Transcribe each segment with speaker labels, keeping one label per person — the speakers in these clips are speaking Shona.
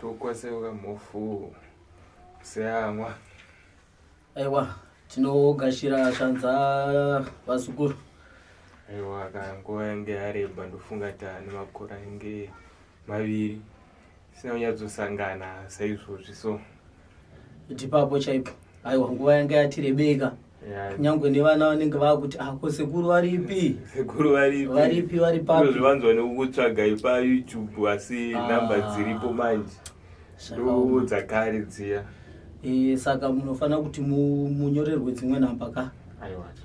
Speaker 1: tokwaseuka mhofu seamwa
Speaker 2: aiwa tinogashira shanza vazukuru aiwa
Speaker 1: ka nguva yange yareba ndofunga tane makore ange maviri zvisina kunyatsosangana saizvozvi so ndipapo
Speaker 2: chaipo aiwa nguva yanga yati rebeka kunyange nevana vanenge vakuti ako ah, sekuru varipi sekuru varipi
Speaker 1: varipi vari papi
Speaker 2: zvivanzwa nekukutsvaga
Speaker 1: ipa youtube asi ah. namba dziripo manje ndo dzakare dziya eh, saka
Speaker 2: munofanira kuti munyorerwe dzimwe namba ka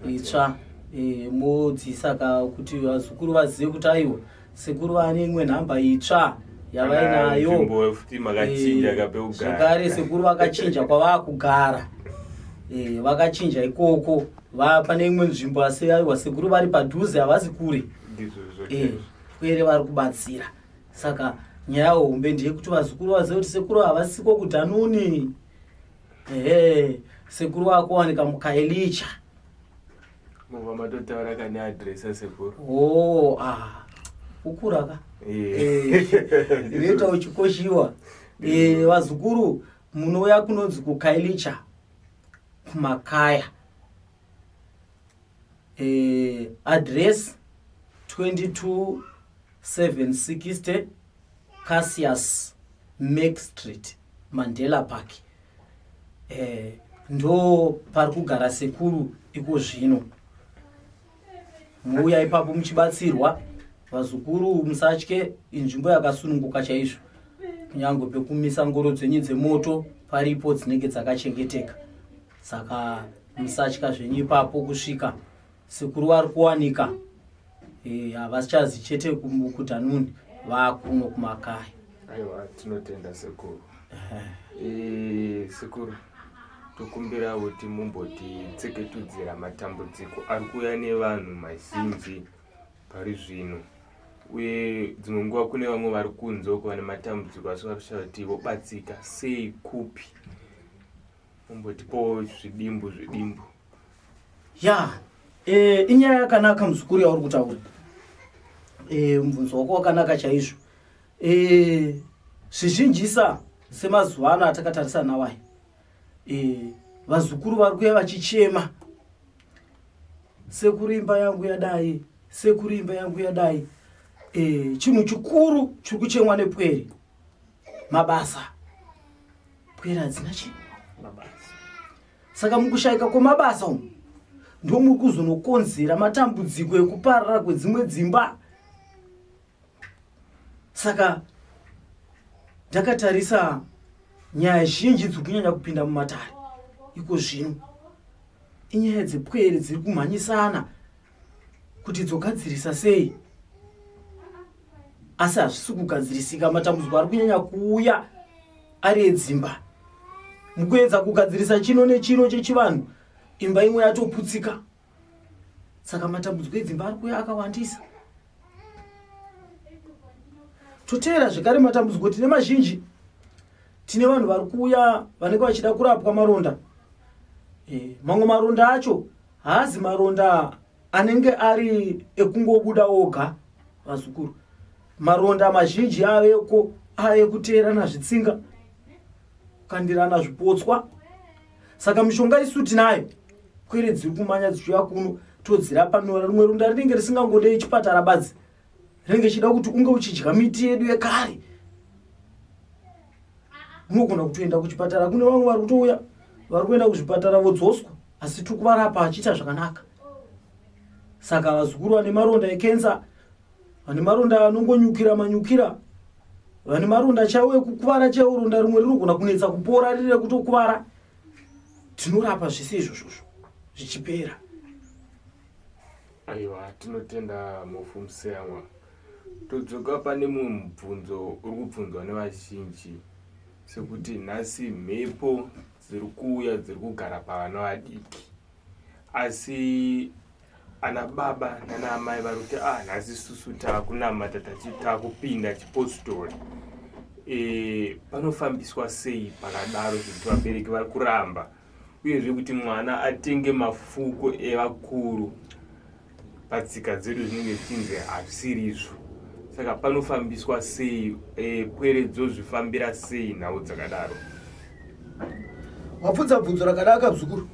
Speaker 2: itsva eh, modzisa ka kuti vazukuru vazive kuti aiwa Sekuru vane imwe nhamba itsva yavainayo
Speaker 1: zvekare sekuru
Speaker 2: vakachinja kwavakugara eh, vakachinja ikoko pane imwe nzvimbo asi aiwa sekuru vari padhuze havasi kure eh, kwere vari kubatsira saka nyaya hombe ndeyekuti vazukuru vazive kuti sekuru havasiko kudhanuni ehe sekuru vakuwanika mukailicha
Speaker 1: Mova matotaura kane address asekuru. Oh, ah.
Speaker 2: Kukura ka? Eh. Reta eh, uchikoshiwa. Eh, vazukuru munouya kunonzi kukailicha kumakaya. Eh, address 22 760 Cassius Mac Street, Mandela Park. eh, ndo pari kugara sekuru iko zvino muuya ipapo muchibatsirwa vazukuru musatye inzvimbo yakasununguka chaizvo kunyange pekumisa ngoro dzenyu dzemoto paripo dzinenge dzakachengeteka saka musatya zvenyu ipapo kusvika Sekuru vari kuwanika eh, havachazi e, chete kutanuni vakuno kumakaya. Aiwa
Speaker 1: tinotenda sekuru. E, sekuru tokumbira kuti mumbotitseketudzira matambudziko ari kuuya nevanhu mazhinji pari zvino uye dzimwe nguva kune vamwe vari kunze uko vane matambudziko asi vari kushaya kuti vobatsika sei kupi umbotipowo zvidimbu zvidimbu ya
Speaker 2: e, inyaya yakanaka muzukuru yauri kutaura e, mubvunzo wako wakanaka chaizvo e, zvizhinjisa semazuva ano atakatarisa nawai e, vazukuru vari kuya vachichema sekuru imba yangu yadai sekuru imba yangu yadai e, chinhu chikuru chiri kuchemwa nepwere mabasa pwere hadzina chi mabasa
Speaker 1: saka
Speaker 2: mukushaika kwemabasa umu ndomuri kuzonokonzera matambudziko ekuparara kwedzimwe dzimba saka ndakatarisa nyaya zhinji dziri kunyanya kupinda mumatare iko zvino inyaya dzepwere dziri kumhanyisana kuti dzogadzirisa sei asi hazvisi kugadzirisika matambudziko ari kunyanya kuuya ari edzimba mukuedza kugadzirisa chino nechino chechivanhu imba imwe yatoputsika saka matambudziko edzimba ari kuya akawandisa toteera zvekare matambudziko tine mazhinji tine vanhu vari kuuya vanenge vachida kurapwa maronda e, mamwe maronda acho Haazi maronda anenge ari ekungobuda oga vazukuru. Maronda mazhinji aveko ave kuteerana zvitsinga, kukandirana zvipotswa. Saka mishonga isu tinayo, kwere dziri kumanya dzichiuya kuno todzirapa nora. Rimwe ronda rinenge risingangodei chipatara badzi, renge chida kuti unge uchidya miti yedu yekare unogona kutoenda kuchipatara kune vamwe vari kutouya vari kuenda kuzvipatara vodzoswa asi tiri kuvarapa achiita zvakanaka saka vazukuru vane maronda ekensa vane maronda anongonyukira manyukira vane maronda chaiwo ekukuvara chaiwo ronda rimwe rinogona kunetsa kupora riri rekutokuvara tinorapa zvese izvozvozvo zvichipera
Speaker 1: Aiwa, tinotenda Mhofu Museyamwa. Todzoka pane mumwe mubvunzo uri kubvunzwa nevazhinji sekuti nhasi mhepo dziri kuuya dziri kugara pavana vadiki asi ana baba nana amai vari kuti ah nhasi susu takunamata takupinda chipostori e, panofambiswa sei pakadaro zvekuti vabereki vari kuramba uyezve kuti mwana atenge mafuko evakuru patsika dzedu zvinenge zvichinzi hazvisiri izvo saka panofambiswa sei e, pwere dzozvifambira sei nhau dzakadaro
Speaker 2: wabvunza bvunzo rakadaka bzukuru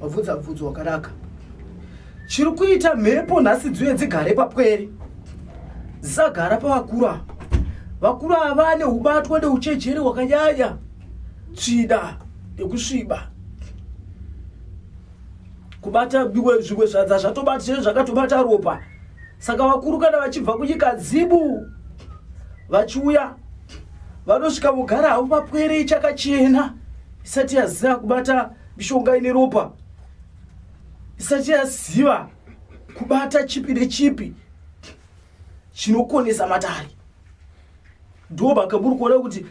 Speaker 2: wabvunza bvunzo wakanaka chiri kuita mhepo nhasi dziuye dzigare papwere dzisagara pavakuru ava vakuru ava vane ubatwa neuchejeri hwakanyanya tsvida yekusviba kubata biwe zvimwe zvanza zvatobata zve zvakatobata ropa saka vakuru kana vachibva kunyika dzibu vachiuya vanosvika mugara havo papwere ichakachena isati yaziva kubata mishonga ine ropa isati yaziva kubata chipi nechipi chinokonesa matare ndo mhaka muri kuona kuti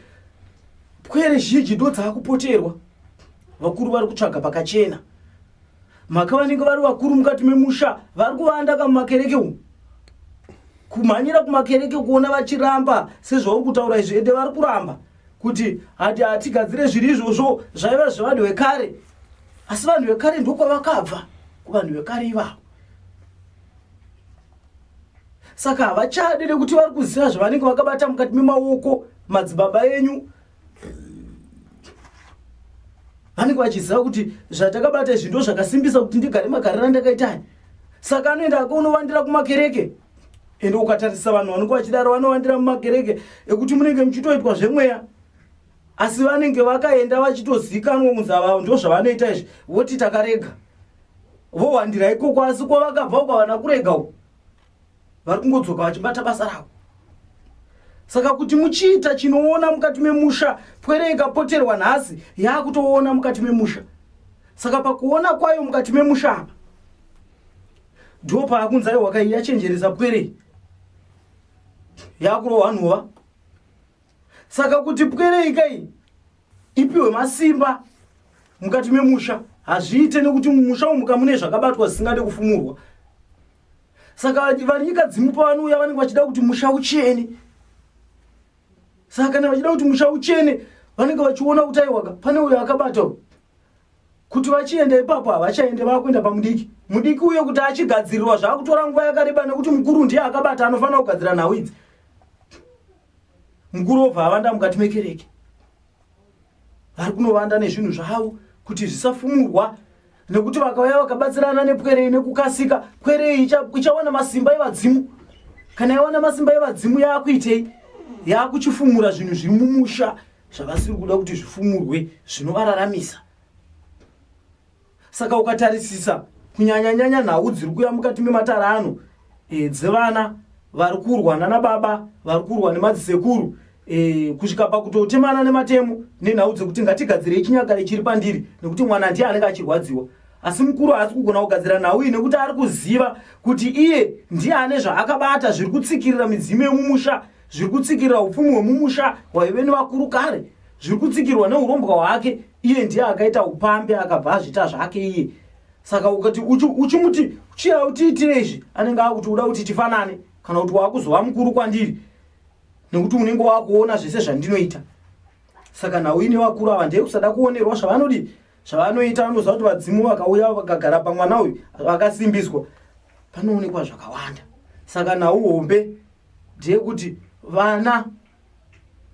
Speaker 2: pwere zhinji ndo dzaakupoterwa vakuru vari kutsvaga pakachena mhaka vanenge vari vakuru mukati memusha vari kuvanda kamumakereke umu kumhanyira kumakereke kuona vachiramba sezvauri kutaura izvi ende vari kuramba kuti hati hatigadzire zviri izvozvo zvaiva zvevanhu vekare asi vanhu vekare ndokwavakabva kuvanhu vekare ivavo saka havachade nekuti vari kuziva zvavanenge vakabata mukati memaoko madzibaba enyu vanenge vachiziva kuti zvatakabata izvi ndo zvakasimbisa kuti ndigare magarira ndakaitani saka anoenda akaonovandira kumakereke ende ukatarisa vanhu vanenge vachidaro vanowandira mumakereke ekuti munenge muchitoitwa zvemweya asi vanenge vakaenda vachitozikanwa kunzi ava ndo zvavanoita izvi voti takarega vohwandira ikoko asi kwavakabva uko havana kurega uko vari kungodzoka vachibata basa ravo saka kuti muchiita chinoona mukati memusha pwere ikapoterwa nhasi yaakutoona mukati memusha saka pakuona kwayo mukati memusha apa ndo paakunzi aiwa kai yachenjeresa pwere yakurohwa nhova saka kuti pwerei kai ipiwe masimba mukati memusha hazviite nekuti mumusha umu kamune zvakabatwa zvisingade kufumurwa saka vari nyika dzimu pavanouya vanenge vachida kuti musha uchene saka kana vachida kuti musha uchene vanenge vachiona kuti aiwaka pane uyo akabata kuti vachienda ipapo havachaende vakuenda pamudiki mudiki uye kuti achigadzirirwa zvaakutora nguva yakareba nekuti mukuru ndiye akabata anofanira kugadzira nhau idzi mukuru obva avanda mukati mekereke vari kunovanda nezvinhu zvavo kuti zvisafumurwa nekuti vakauya vakabatsirana nepwerei nekukasika pwerei ichawana masimba evadzimu kana yawana masimba evadzimu yaakuitei yaakuchifumura zvinhu zviri mumusha zvavasiri kuda kuti zvifumurwe zvinovararamisa saka ukatarisisa kunyanyanyanya nhau dziri kuya mukati mematara ano e, dzevana vari kurwa nana baba vari kurwa nemadzisekuru e, kusvika pakutotemana nematemo nenhau dzekuti ngatigadzirei chinyakare chiri pandiri nekuti mwana ndiye anenge achirwadziwa asi mukuru haasi kugona kugadzira nhau iyi nekuti ari kuziva kuti iye ndiye ane zvaakabata zviri kutsikirira midzimu yemumusha zviri kutsikirira upfumi hwemumusha hwaive nevakuru kare zviri kutsikirwa neurombwa hwake iye ndiye akaita upambi akabva azvita zvake iye saka ukati uchimuti uchi chiya utiitire izvi anenge akuti uda kuti tifanane kana kuti waakuzova mukuru kwandiri nekuti unenge wakuona zvese zvandinoita saka nhau ine vakuru ava ndeye kusada kuonerwa zvavanodii zvavanoita vanoziva kuti vadzimu vakauya vakagara pamwana uyu vakasimbiswa panoonekwa zvakawanda saka nhau hombe ndeyekuti vana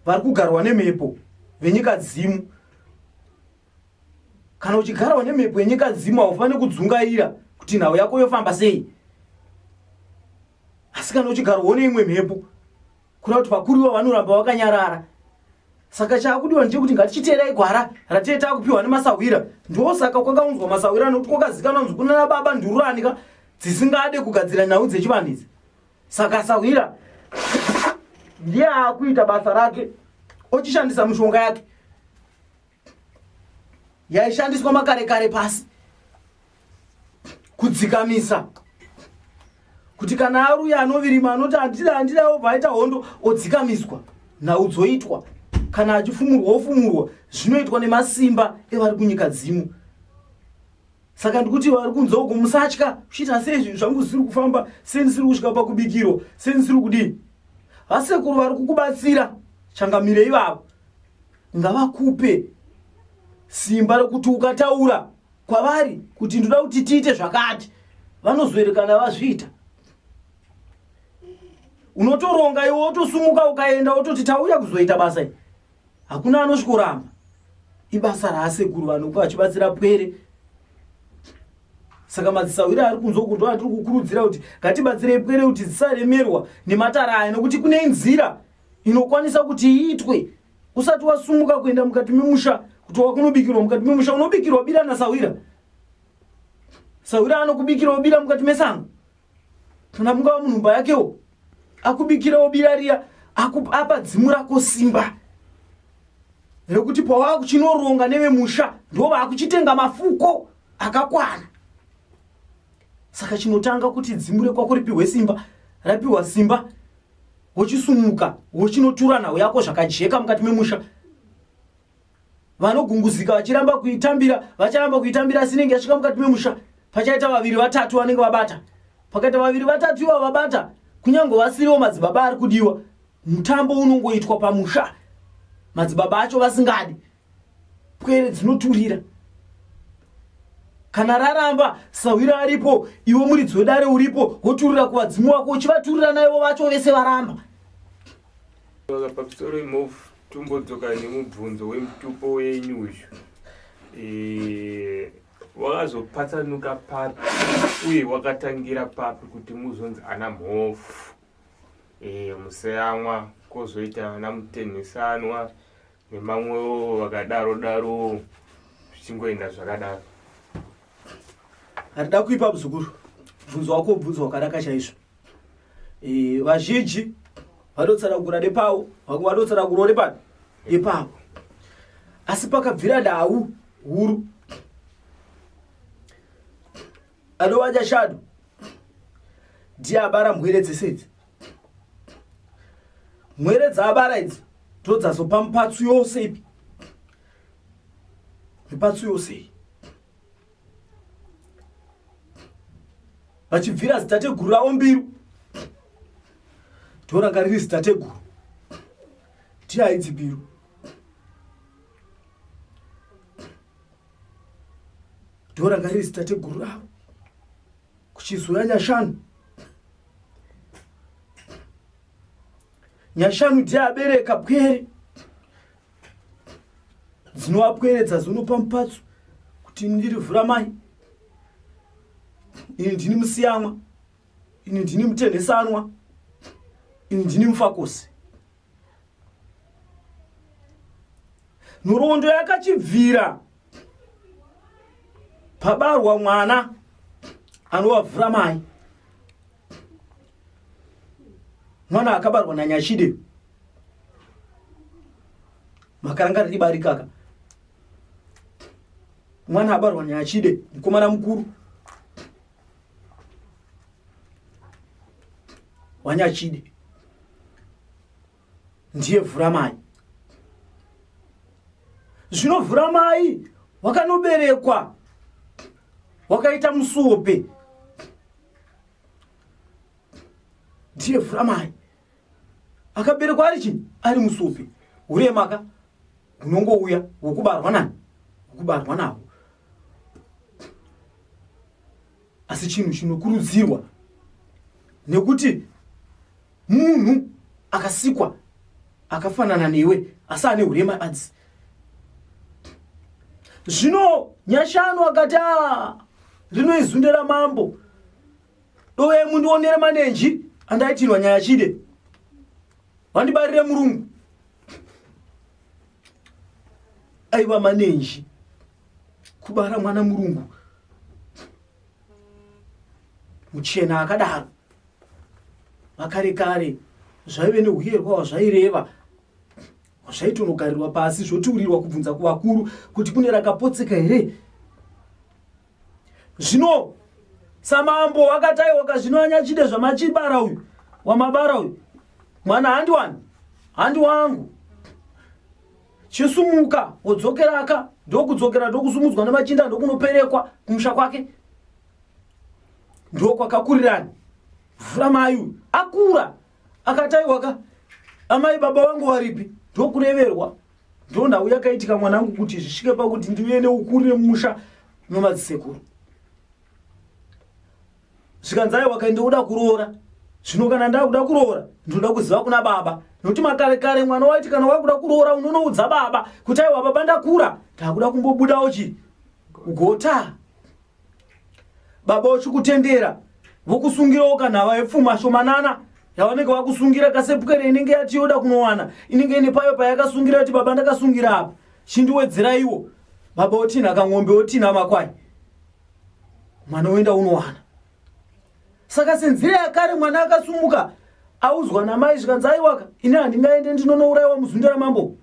Speaker 2: vari kugarwa nemhepo venyika dzimu kana uchigarwa nemhepo yenyika dzimu haufaniri kudzungaira kuti nhau yako yofamba sei asi kana uchigarwawo neimwe mhepo kuda kuti vakuru ivo vanoramba vakanyarara saka chaakudiwa ndechekuti ngatichiteerai gwara ratie taakupiwa nemasahwira ndiwo saka kwakaunzwa masahwira nokuti kwakazikanwa nzi kunana baba ndururani ka dzisingade kugadzira nhau dzechivanhu idzi saka sahwira ndiye akuita basa rake ochishandisa mishonga yake yaishandiswa makare kare pasi kudzikamisa kuti kana aruya anovirima anoti andida andida obva aita hondo odzikamiswa nhau dzoitwa kana achifumurwa ofumurwa zvinoitwa nemasimba evari kunyika dzimu saka ndikuti vari kunzwa uko musatya kuchiita sei zvinhu zvangu zvisiri kufamba sei ndisiri kusvika pakubikirwa sei ndisiri kudii vasekuru vari kukubatsira changamire ivavo ngavakupe simba rekuti ukataura kwavari kuti ndoda kuti tiite zvakati vanozoerekana vazviita unotoronga iwe wotosumuka ukaenda wototi tauya kuzoita basa i hakuna anosvikoramba ibasa raasekuru vanoku vachibatsira pwere saka madzisahwira ari kunzwa kunzwa atiri kukurudzira kuti ngatibatsirei pwere kuti dzisaremerwa nematara aya nokuti kune inzira inokwanisa kuti iitwe usati wasumuka kuenda mukati memusha kuti wakunobikirwa mukati memusha unobikirwa bira nasahwira sahwira anokubikirawo bira mukati mesango kana mungava munhu mba yakewo akubikirawo bira riya apa dzimu rako simba rekuti pawava kuchinoronga nevemusha ndo vakuchitenga mafuko akakwana saka chinotanga kuti dzimu rekwako ripihwe simba rapihwa simba wochisumuka wochinotura nhau yako zvakajeka mukati memusha vanogunguzika vachiramba kuitambira vacharamba kuitambira asi inenge yasvika mukati memusha pachaita vaviri vatatu vanenge vabata pakaita vaviri vatatu iva vabata kunyange vasiriwo madzibaba ari kudiwa mutambo unongoitwa pamusha madzibaba acho vasingadi pwere dzinoturira kana raramba sahwira aripo iwe muridzi wedare uripo woturira kuvadzimu wako uchivaturira naivo vacho vese varamba Saka
Speaker 1: pamusoro imhofu tombodzoka nemubvunzo wemutupo wenyu uyu wakazopatsanuka papi uye wakatangira papi kuti muzonzi ana mhofu museyamwa kozoita ana mutenhesanwa nemamwewo vakadaro daro zvichingoenda zvakadaro
Speaker 2: handida kuipa muzukuru bvunzo wako bvunzo wakanaka chaizvo Eh, vazhinji vanotsanangura nepawo vamwe vanotsanangura nepani nepawo asi pakabvira nhau huru anova nyashanu ndiye abara mwere dzese idzi mwere dzaabara idzi ndodzazopa mipatsu yose ipi mipatsu yose iyi vachibvira zitateguru ravo mbiru ndoranga riri zitateguru tiaidzi mbiru ndoranga riri zitateguru ravo kuchizouya nyashanu nyashanu ndiye abereka pwere dzinovapweredza dzinopa mupatso kuti ini ndiri vhura mai ini ndini musiyamwa ini ndini mutenhesanwa ini ndini mufakosi nhoroondo yakachibvira pabarwa mwana anovavhura mai mwana akabarwa nanyashide makaranga riri bari kaka mwana abarwa nyachide mukomana mukuru wanyachide ndiye vhuramai zvino vhuramai wakanoberekwa wakaita musuope ndiye vhuramai akaberekwa ari chii ari musuope uremaka unongouya wokubarwa nani wokubarwa navo asi chinhu chinokurudzirwa nekuti Munhu akasikwa akafanana newe asi ane urema adzi. Zvino Nyashanu akati ah, rino izunde ramambo dove mundionere manenji andaitirwa nyaya chide vandibarire murungu aiva manenji kubara mwana murungu muchena akadaro vakare kare zvaive neuyerwa hwazvaireva hwazvaitonogarirwa pasi zvotiurirwa kubvunza kuvakuru kuti kune rakapotseka here zvino samambo wakataiwaka zvino anyachide zvamachibara uyu wamabara uyu mwana handi wani handi wangu chisumuka wodzokeraka ndokudzokera ndokusumudzwa nemachinda ndokunoperekwa kumusha kwake ndokwakakurirani vhura mai uyu akura akataiwaka amai baba vangu varipi ndokureverwa ndo nhau yakaitika mwanangu kuti zvisvike pakuti ndiuye neukuri nemusha nomadzisekuru zvikanzi aiwa kaende uda kuroora zvino kana ndakuda kuroora ndinoda kuziva kuna baba nokuti makare kare mwana waiti kana wakuda kuroora unonoudza baba kuti aiwa baba ndakura ndakuda kumbobudawo chi gota baba uchikutendera vokusungirawo kanhava yepfuma shomanana yavanenge vakusungira kasepukere inenge yati yoda kunowana inenge ine payo payakasungira kuti baba ndakasungira apa chindiwedzeraiwo baba otinha kang'ombe otinha makwai mwana woenda unowana saka senzira yakare mwana akasumuka audzwa namai zvikanzi aiwaka ini handingaende ndinonourayiwa muzunda ramambo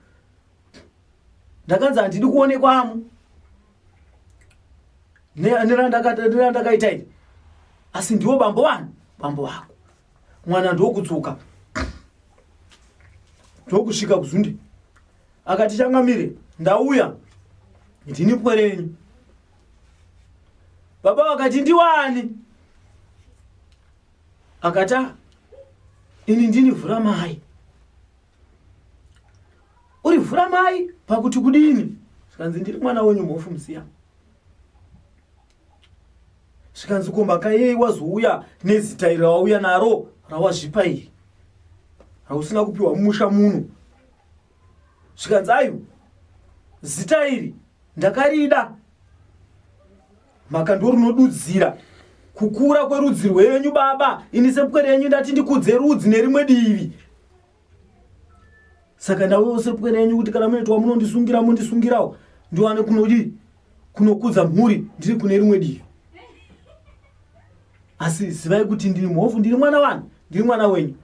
Speaker 2: ndakanzi handidi kuonekwamo nerandakaita iri asi ndiwo bambo vanhu bambo vako mwana ndokutsuka ndokusvika kuzunde akati changamire ndauya ndini pwerenyu baba vakati ndiwani akati "Ah, ini ndini vhura mai uri vhura mai pakuti kudini zvikanzi ndiri mwana wenyu mhofu musiya zvikanzi ko mhaka yei wazouya nezita iri rawauya naro rawazvipa iri rausina kupiwa mumusha muno zvikanzi ayu zita iri ndakarida maka ndorinodudzira kukura kwerudzi rwenyu baba ini sepwere yenyu ndati ndikudze rudzi nerimwe divi saka ndauyawo sepwere yenyu kuti kana munoitwa munondisungira mondisungirawo ndiwane kunodii kunokudza mhuri ndiri kune rimwe divi asi zivai kuti ndiri mhofu ndiri mwana wani ndiri mwana wenyu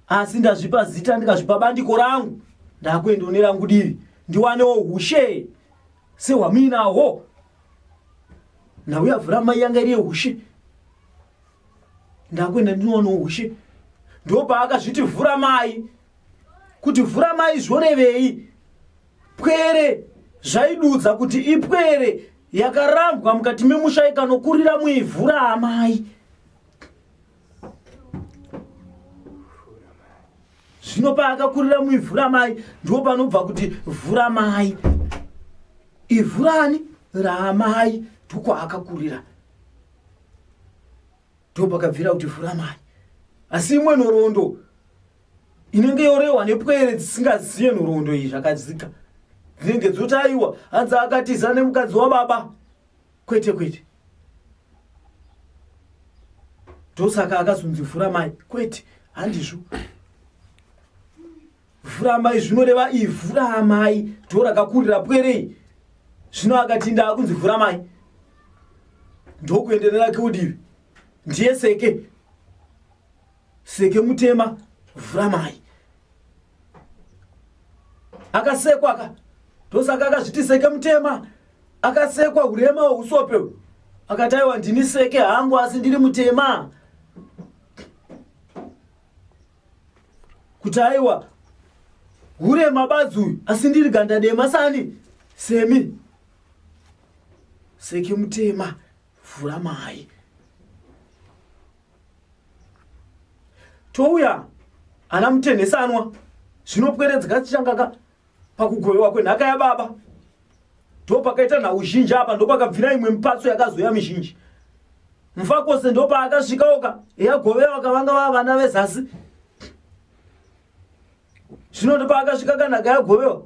Speaker 2: asi ndazvipa zita ndikazvipa bandiko rangu ndakuenda une rangu divi ndiwanewo ushe sehwamuinahwo nhau yavhura mai yanga iri yeushe ndakuenda ndinowanawo ushe ndopaakazviti vhura mai kuti vhura mai zvorevei pwere zvaidudza kuti ipwere yakarambwa mukati memusha ikanokurira muivhura amai zvino paakakurira muivhu ramai ndipo panobva kuti vhu ramai ivhu rani raamai ndiko akakurira ndipo pakabvira kuti vhu ramai asi imwe nhoroondo inenge yorehwa nepwere dzisingazive nhoroondo iyi zvakadzika dzinenge dzotaiwa hanzi akatiza nemukadzi wababa Kwete kwete. Ndosaka akazonzi vhura mai. Kwete, handizvo. Vhura amai zvinoreva ivhura amai ndoo rakakurira pwerei. Zvino akati ndaakunzi vhura amai ndokuenderera keudivi ndiye seke Seke mutema vhura mai. Akasekwa ka ndosaka akazviti seke mutema akasekwa urema hweusope hwe akataiwa ndini seke hangu asi ndiri mutema kuti aiwa hure mabadzi uyu asi ndiri ganda dema sani semi seke mutema vhura mai touya ana mutenhesanwa zvinopweredzeka tichangaka pakugovewa kwenhaka yababa ndopakaita nhau zhinji apa ndopakabvira imwe mipatso yakazoya mizhinji mufakose ndopaakasvikaoka yagovewa kavanga vava vana vezasi zvino ndo paakasvika kanhaka yagovewa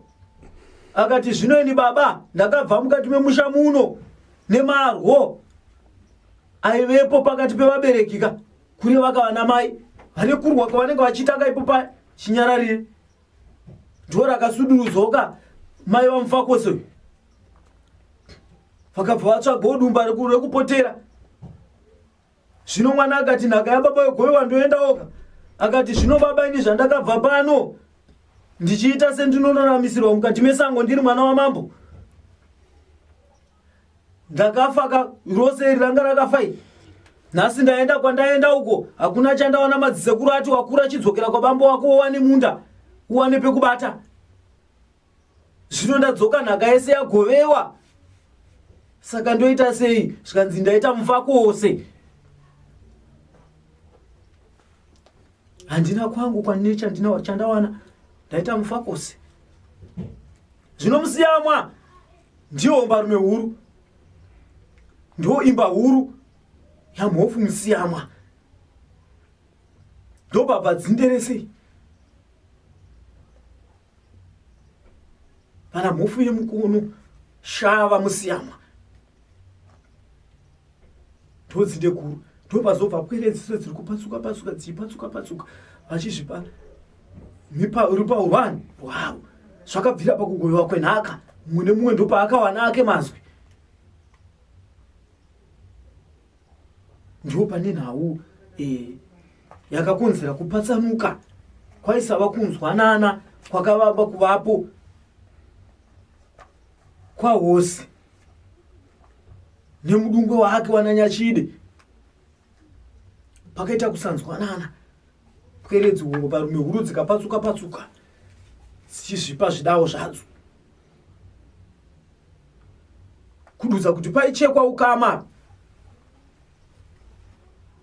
Speaker 2: akati zvino ini baba ndakabva mukati memusha muno nemarwo aivepo pakati pevabereki ka kune vakavana mai vane kurwa kwavanenge vachiita ka ipo paya chinyararire ndo rakasuduruzoka mai vamufakose uyu vakabva vatsvaga udumba rekupotera Zvino mwana akati, Nhaka yababa yogoiwa ndoenda oga. Akati, Zvino baba, ini zvandakabva pano ndichiita sendinoraramisirwa mukati mesango ndiri mwana wamambo ndakafaka rose iri ranga rakafai nhasi ndaenda kwandaenda uko hakuna chandaona madzisekuru ati wakura chidzokera kwabambo wako wowane munda uwane pekubata zvino ndadzoka nhaka yese yagovewa saka ndoita sei zvikanzi ndaita mufako wose handina kwangu kwanine chandina chandawana ndaita mufako wose zvino musiyamwa ndiwo mbarume huru ndo imba huru yamhofu musiyamwa ndobhabva dzinderesei Kana mhofu yemukunu shava musiyamwa ndodzinde guru ndopazobva pweredziso dziri kupatsuka patsuka dziipatsuka patsuka vachizvipa rupahurwani hwavo zvakabvira pakugovewa kwenhaka mumwe nemumwe ndopaakawana ake mazwi Ndipo pane nhau eh, yakakonzera kupatsanuka kwaisava kunzwanana kwakavamba kuvapo kwahosi nemudungwe wake wananyachide pakaita kusanzwanana pweredzi hungo parume huru dzikapatsuka patsuka dzichizvipa zvidawo zvadzo kududza kuti paichekwa ukama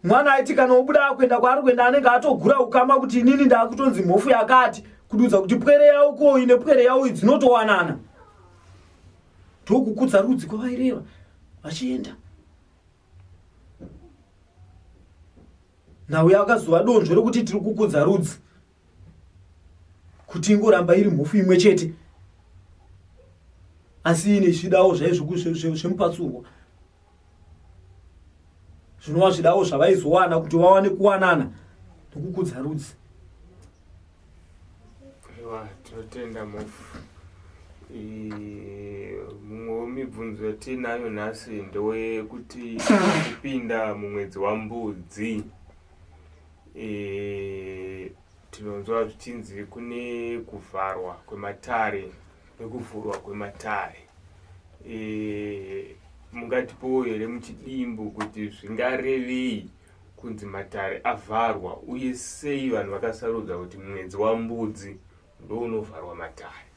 Speaker 2: mwana aiti kana obuda akuenda kwaari kuenda anenge atogura ukama kuti inini ndaakutonzi mhofu yakati kududza kuti pwere yavo koi nepwere yavo dzinotowanana ndokukudza rudzi kwavaireva vachienda nhau yakazova donzvo rekuti tiri kukudza rudzi kuti ingoramba iri mhofu imwe chete asi ine zvidawo zvaizvokuzvemupatsurwa zvinova zvidawo zvavaizowana kuti vawane kuwanana nokukudza rudzi
Speaker 1: tinotenda mhofu mumwe wemibvunzo yatiinayo nhasi ndewekuti kupinda mumwedzi wambudzi E, tinonzwa zvichinzi kune kuvharwa kwematare nekuvhurwa kwematare e, mungatipowo here muchidimbu kuti zvingarevei kunzi matare avharwa uye sei vanhu vakasarudza kuti mwedzi wambudzi ndounovharwa matare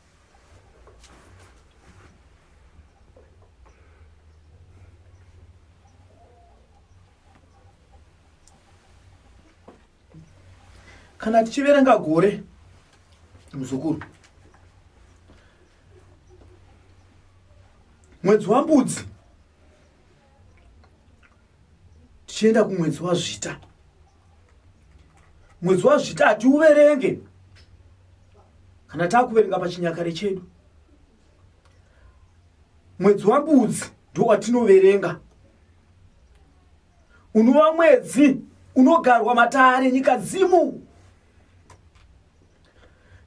Speaker 2: kana tichiverenga gore muzukuru mwedzi wambudzi tichienda kumwedzi wazvita mwedzi wazvita hatiuverenge kana taakuverenga pachinyakare chedu mwedzi wambudzi ndiwo watinoverenga unova mwedzi unogarwa matare enyika dzimu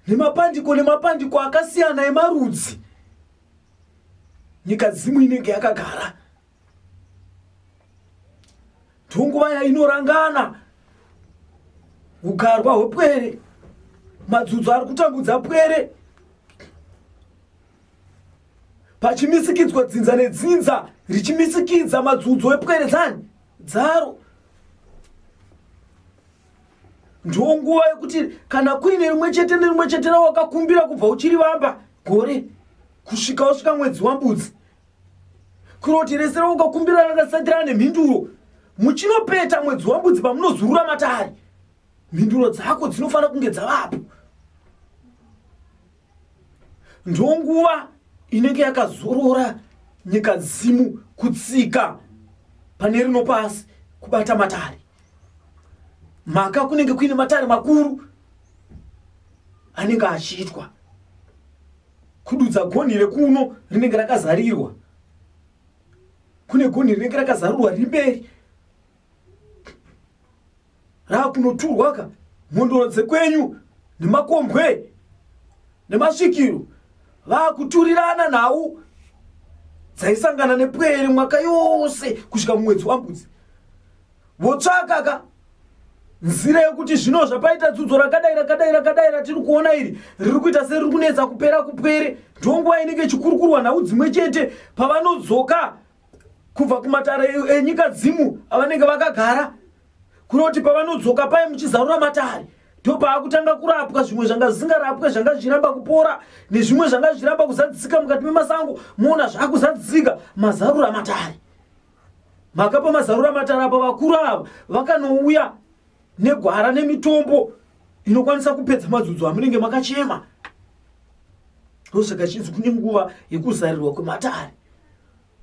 Speaker 2: nemapandiko nemapandiko akasiyana emarudzi nyika dzimu inenge yakagara ndonguva yainorangana ugarwa hwepwere madzudzo ari kutambudza pwere pachimisikidzwa dzinza nedzinza richimisikidza madzudzo epwere dzani dzaro ndiwo nguva yekuti kana kuine rimwe chete nerimwe chete rawakakumbira kubva uchiri vamba gore kusvika wasvika mwedzi wambudzi kuroti rese rawakakumbira rakasatirana nemhinduro muchinopeta mwedzi wambudzi pamunozurura matari mhinduro dzako dzinofanira kunge dzavapo ndonguva inenge yakazorora nyika dzimu kutsika pane rino pasi kubata matare mhaka kunenge kuine matare makuru anenge achiitwa kududza gonhi rekuno rinenge rakazarirwa kune gonhi rinenge rakazarurwa rimberi raakunoturwa ka mhondoro dzekwenyu nemakombwe nemasvikiro vaakuturirana nhau dzaisangana nepwere mwaka yose kusvika mumwedzi wambudzi votsvaka ka nzira yekuti zvino zvapaita dzudzo rakadai rakadai rakadai ratiri kuona iri riri kuita seriri kunetsa kupera kupwere ndonguva inenge ichikurukurwa nhau dzimwe chete pavanodzoka kubva kumatare enyika dzimu avanenge vakagara kunoti pavanodzoka paye muchizarura matare ndopaakutanga kurapwa zvimwe zvanga zvisingarapwe zvanga zvichiramba kupora nezvimwe zvanga zvichiramba kuzadzisika mukati memasango moona zvaakuzadzisika mazarura matare mhaka pamazarura matare apa vakuru ava vakanouya negwara nemitombo inokwanisa kupedza madzudzo amunenge makachema ndosaka chinzi kune nguva yekuzarirwa kwematare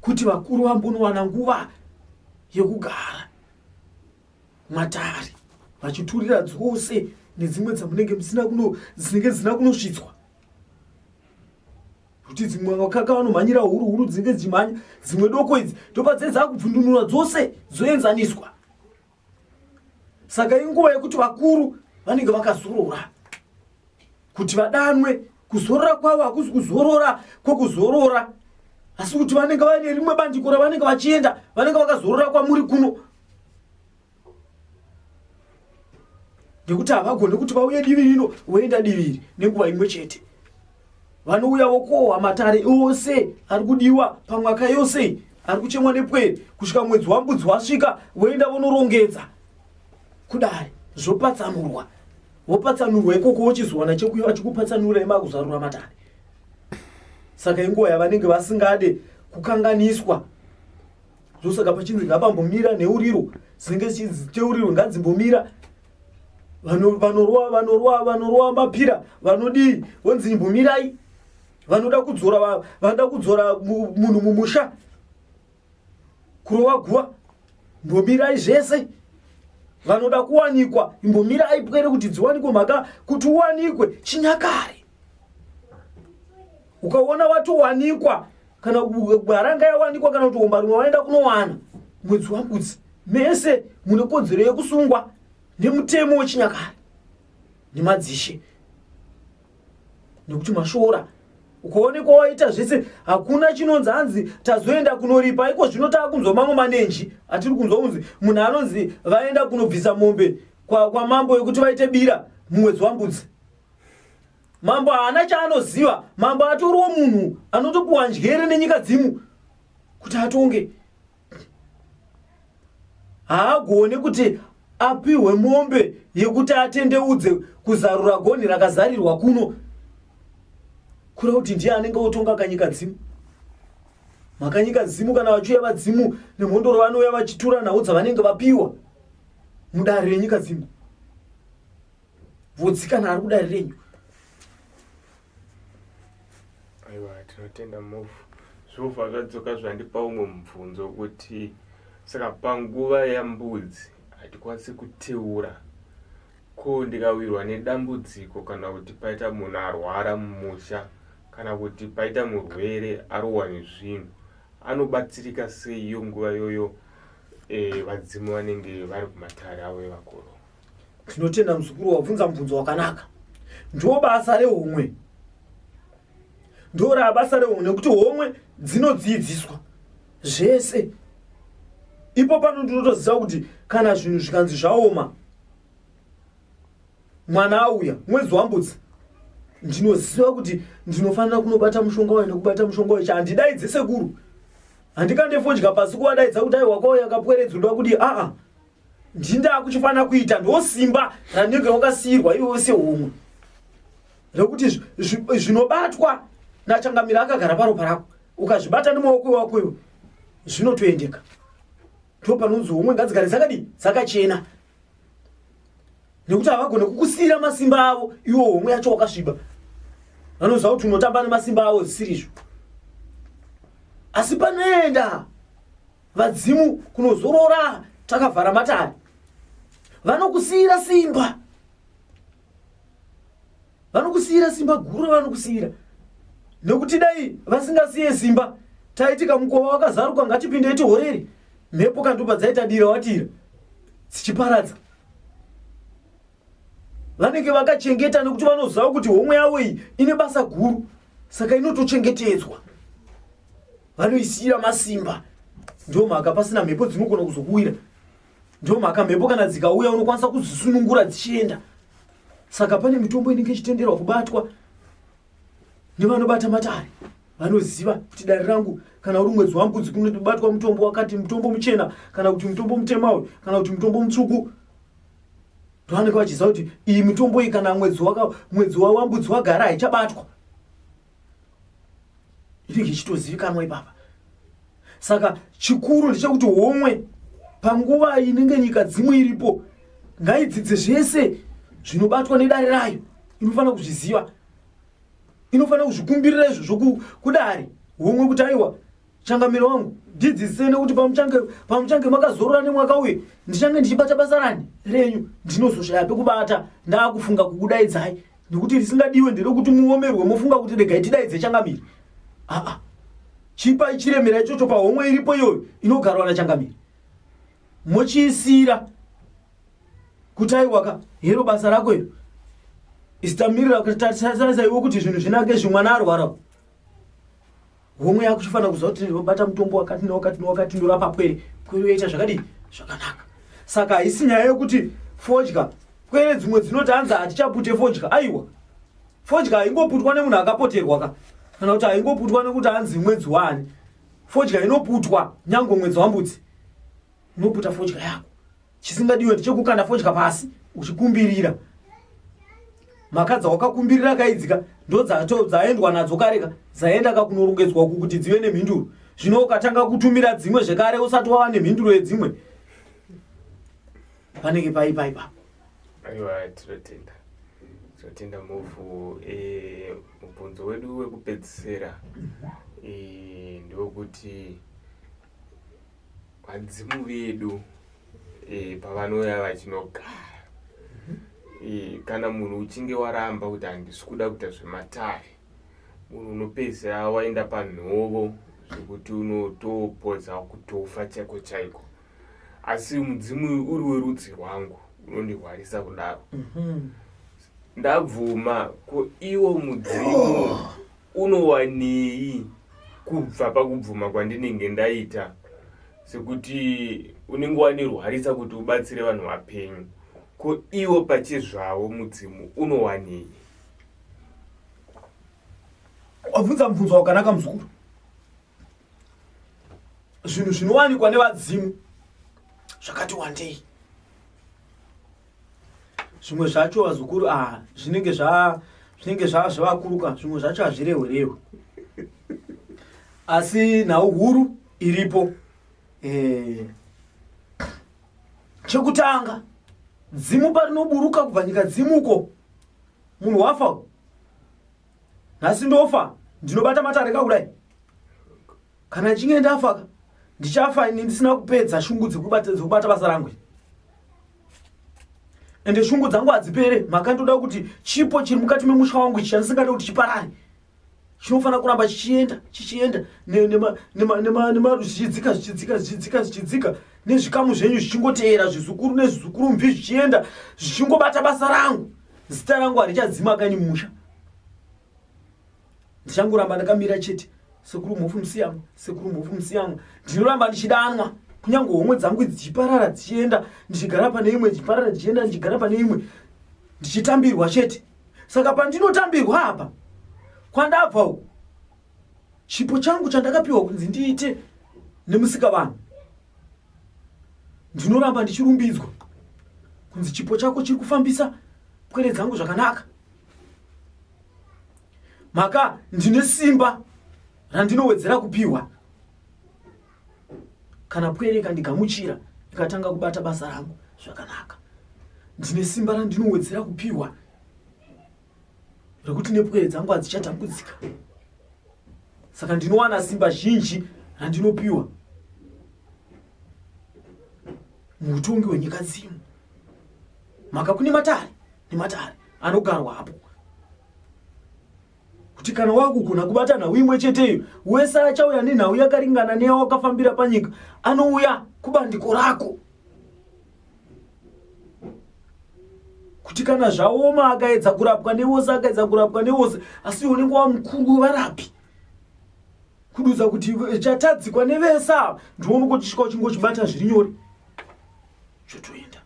Speaker 2: kuti vakuru vambonowana nguva yekugara matare vachiturira dzose nedzimwe dzamunenge musina kuno dzinenge dzisina kunosvitswa kuti dzimwe vakaka vanomhanyira huru huru dzinenge dzichimhanya dzimwe doko idzi ndopadzinenge dzakubvundunura dzose dzoenzaniswa saka inguva yekuti vakuru vanenge vakazorora kuti vadanwe kuzorora kwavo hakuzi kuzorora kwokuzorora asi kuti vanenge vaine rimwe bandiko ravanenge vachienda vanenge vakazorora kwamuri kuno nekuti havagone kuti vauye divi rino voenda diviri nenguva imwe chete vanouya vokohwa matare ose ari kudiwa pamwaka yose ari kuchemwa nepwere kusvika mwedzi wambudzi wasvika voenda vonorongedza kudari zvopatsanurwa vopatsanurwa ikoko wochizowana chekuya vachikupatsanura imakuzarura matare saka inguva yavanenge vasingade kukanganiswa ndosaka pachinzi ngapambomira nheuriro dzinenge teuriro ngadzimbomira Vano- vanorwa vanorwa vanorwa mapira vanodii vonzi imbomirai vanoda kudzora va- vanoda kudzora mu- munhu mumusha kurova guva mbomirai zvese vanoda kuwanikwa imbomirai pwere kuti dziwanikwe mhaka kuti uwanikwe chinyakare ukaona watowanikwa kana gwaranga yawanikwa kana kuti homba rimwe waenda kunowana mwedzi wambudzi mese mune kodzero yekusungwa nemutemo wechinyakare nemadzishe nekuti mashora ukaonekwa waita zvese hakuna chinonzi hanzi tazoenda kunoripa iko zvino taa kunzwa mamwe manenji atiri kunzwa kunzi munhu anonzi vaenda kunobvisa mombe kwamambo kwa yekuti vaite bira mumwedzi wambudzi mambo haana chaanoziva mambo atoriwo munhu anotopiwa njere nenyika dzimu kuti atonge haagone kuti apihwe mombe yekuti atendeudze kuzarura gonhi rakazarirwa kuno kura kuti ndiye anenge otonga kanyika dzimu makanyika dzimu kana vachiuya vadzimu nemhondoro vanouya vachitura nhau dzavanenge vapiwa mudare renyika dzimu Vhudzi kana ari kudari renyu.
Speaker 1: Aiwa tinotenda move. Zvova akadzoka zvandipa umwe mubvunzo kuti saka panguva yambudzi hatikwanisi kuteura ko ndikawirwa nedambudziko kana kuti paita munhu arwara mumusha kana kuti paita murwere arohwa nezvinhu anobatsirika sei iyo nguva iyoyo eh, vadzimu vanenge vari kumatare avo evakuru tinotenda
Speaker 2: muzukuru wabvunza mubvunzo wakanaka ndo basa rehomwe ndo rabasa rehomwe nekuti homwe dzinodzidziswa zvese ipo pano ndinotoziva kuti kana zvinhu zvikanzi zvaoma mwana auya mwedzi wambudzi ndinoziva kuti ndinofanira kunobata mushonga wayo nekubata mushonga wayo chandidaidze sekuru handikande fodya pasi kuvadaidza kuti aiwakauya kapweredzi unoda kudii aa ah, ah. ndindaa kuchifanira kuita ndosimba ranenge wakasiyirwa iwe wese humwe rekuti zvinobatwa nachangamira akagara paropa rako ukazvibata nemaoko wako iwe zvinotoendeka ndo panonzi homwe ngadzigare dzakadii dzakachena nekuti havagone kukusiyira masimba avo iwo homwe yacho wakasviba vanoziva kuti unotamba nemasimba avo zvisiri izvo asi panoenda vadzimu kunozorora takavhara matare vanokusiyira simba vanokusiyira simba guru vanokusiyira nekuti dai vasingasiye simba taiti kamukova wakazaruka ngatipinde itihoreri mhepo kandupa dzaitadira watira dzichiparadza vanenge vakachengeta nekuti vanoziva kuti homwe yavo iyi ine basa guru saka inotochengetedzwa vanoisiyira masimba ndio mhaka pasina mhepo dzinogona kuzokuwira ndio mhaka mhepo kana dzikauya unokwanisa kudzisunungura dzichienda saka pane mitombo inenge ichitenderwa kubatwa nevanobata matare vanoziva kuti dare rangu kana uri mwedzi wambudzi kunobatwa mutombo wakati mutombo muchena kana kuti mutombo mutema uyu kana kuti mutombo mutsvuku vanenge vachiziva kuti iyi mitombo iyi kana mwedzi mwedzi wawambudzi wagara haichabatwa inenge ichitozivikanwa ipapa saka chikuru ndechekuti homwe panguva inenge nyika dzimwe iripo ngaidzidze zvese zvinobatwa nedare rayo inofanira kuzviziva inofanira kuzvikumbirira izvo zvokudare homwe kuti aiwa changamiro wangu ndidzisene kuti pamuchange pamuchange makazorora nemwaka uye ndichange ndichibata basa rani renyu ndinozoshaya pekubata ndaakufunga kukudaidzai nekuti risingadiwe nderekuti muomerwe mofunga kuti regai tidaidze changamiro aa chipai chiremera ichocho pahomwe iripo iyoyo inogarwa nachangamiro mochiisira kuti aiwaka hero basa rako iro isitamirira kutarisaiwo kuti zvinhu zvinake zvimwana arwarawo homwe yako chifanira kuziva kuti ndinobata mutombo wakati newakati newakati ndorapa pwere pwere yoita zvakadii zvakanaka saka haisi nyaya yekuti fodya pwere dzimwe dzinoti hanzi hatichapute fodya aiwa fodya haingoputwa nemunhu akapoterwa ka kana kuti haingoputwa nekuti hanzi mwedzi wani fodya inoputwa nyange mwedzi wambudzi unoputa fodya yako chisingadiwe ndichekukanda fodya pasi uchikumbirira mhaka dzawakakumbirira akaidzika ndodzaendwa nadzo kareka dzaenda kakunorongedzwa uku kuti dzive nemhinduro zvino ukatanga kutumira dzimwe zvekare usati wava nemhinduro yedzimwe panenge paipaipa aiwa
Speaker 1: tinotenda tinotenda mhofu eh, mubvunzo wedu wekupedzisira eh, ndewokuti e, Vadzimu vedu e, pavanouya vachinogara e, kana munhu uchinge waramba kuti handisi kuda kuita zvematare munhu unopedzisira waenda panhovo zvekuti unotopodza kutofa chaiko chaiko asi mudzimu uyu uri werudzi rwangu unondihwarisa kudaro mhm. ndabvuma ko iwo mudzimu Unowanei kubva pakubvuma kwandinenge ndaita sekuti unenge wandirwarisa kuti ubatsire vanhu vapenyu ko iwo pachezvavo mudzimu unowanei
Speaker 2: wabvunza mubvunzo wakanaka muzukuru zvinhu zvinowanikwa nevadzimu zvakati wandei zvimwe zvacho vazukuru ah, zvinenge zva zvinenge zva zvavakuruka zvimwe zvacho hazvirehwe rehwe asi nhau huru iripo eh. chekutanga dzimu parinoburuka kubva nyika dzimuko munhu wafa nhasi ndofa ndinobata matare ka kudai kana ndichinge ndafa ka ndichafa ini ndisina kupedza shungu dzekubata dzekubata basa rangu ende shungu dzangu hadzipere mhaka ndoda kuti chipo chiri mukati memusha wangu ichi chandisingade kuti chiparare chinofanira kuramba chichienda chichienda ne- nema- nema- nema- nema- zvichidzika zvichidzika zvichidzika zvichidzika nezvikamu zvenyu zvichingoteera zvizukuru nezvizukuru mvi zvichienda zvichingobata basa rangu zita rangu harichadzima kani musha ndichangoramba ndakamira chete sekuru mhofu musiyamwa sekuru mhofu musiyamwa ndinoramba ndichidanwa kunyange homwe dzangu dzichiparara dzichienda ndichigara pane imwe dzichiparara dzichienda ndichigara pane imwe ndichitambirwa chete saka pandinotambirwa apa kwandabva uku chipo changu chandakapiwa kunzi ndiite nemusika vanhu ndinoramba ndichirumbidzwa kunzi chipo chako chiri kufambisa pwere dzangu zvakanaka maka ndine simba randinowedzera kupiwa kana pwere ikandigamuchira ikatanga kubata basa rangu zvakanaka ndine simba randinowedzera kupiwa rekuti nepwere dzangu hadzichatambudzika saka ndinowana simba zhinji randinopiwa muutongi hwenyika dzino maka kune matare nematare anogarwa hapo kuti kana wakugona kubata nhau imwe cheteyo wese achauya nenhau yakaringana neyawakafambira panyika anouya kubandiko rako kuti kana zvaoma akaedza kurapwa nevose akaedza kurapwa nevose asi unenge wamukuru wevarapi kududza kuti chatadzikwa nevese ava ndiono kochisvika uchingochibata zviri nyore zvotoenda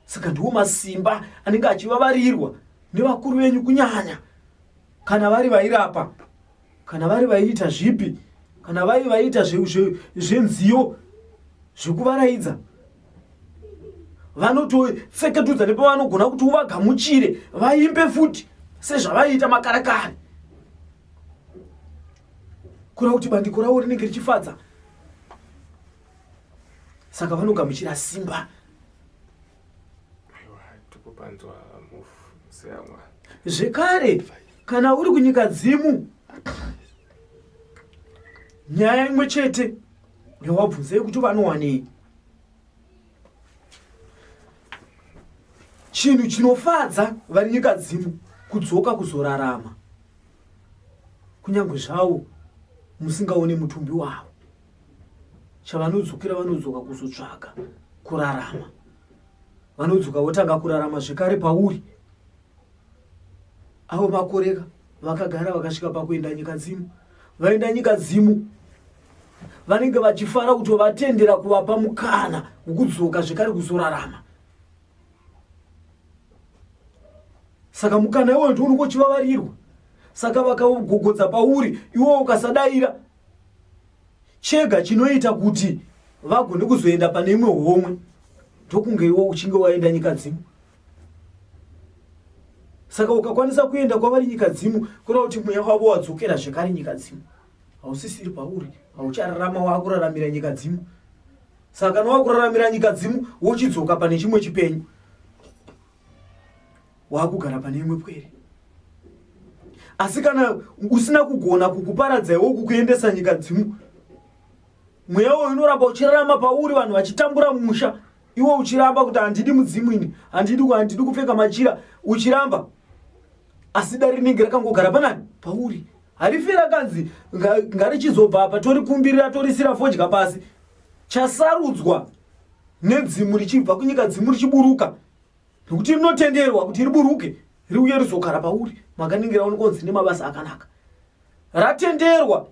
Speaker 2: saka ndiwo masimba anenge achivavarirwa nevakuru venyu kunyanya kana vari vairapa kana vari vaiita zvipi kana vari vaiita zvenziyo zvekuvaraidza vanotofeketudza nepavanogona kuti uvagamuchire vaimbe futi sezvavaiita makarakari kura kuti bandiko ravo rinenge richifadza saka vanogamuchira simba
Speaker 1: zvekare
Speaker 2: kana uri kunyika dzimu nyaya imwe chete yawabvunza yekuti vanowanei chinhu chinofadza vari nyika dzimu kudzoka kuzorarama kunyange zvavo musingaone mutumbi wavo chavanodzokera vanodzoka kuzotsvaga kurarama vanodzoka votanga kurarama zvekare pauri avo makoreka vakagara vakasvika pakuenda nyika dzimu vaenda nyika dzimu vanenge vachifara kuti vatendera kuvapa mukana wokudzoka zvekare kuzorarama saka mukana iwoyo ndiwo unenge uchivavarirwa saka vakagogodza pauri iwowo ukasadaira chega chinoita kuti vagone kuzoenda pane imwe homwe ndokunge iwo uchinge waenda nyika dzimu saka ukakwanisa kuenda kwavari nyika dzimu kureva kuti mweya wavo wadzokera zvekare nyika dzimu hausisiri pauri hauchararama wakuraramira nyika dzimu saka kana wakuraramira nyika dzimu wochidzoka pane chimwe chipenyu waakugara pane imwe pwere asi kana usina kugona kukuparadzaiwo kukuendesa nyika dzimu mweya uyo unoramba uchirarama pauri vanhu vachitambura musha iwe uchiramba kuti handidi mudzimu ini handidi handidi kupfeka machira uchiramba asi dare rinenge rakangogara panani pauri harifi rakanzi ngarichizobva apa torikumbirira torisira fodya pasi chasarudzwa nedzimu richibva kunyika dzimu richiburuka nokuti rinotenderwa kuti riburuke riuye rizogara pauri makaningira unokonzi nemabasa akanaka ratenderwa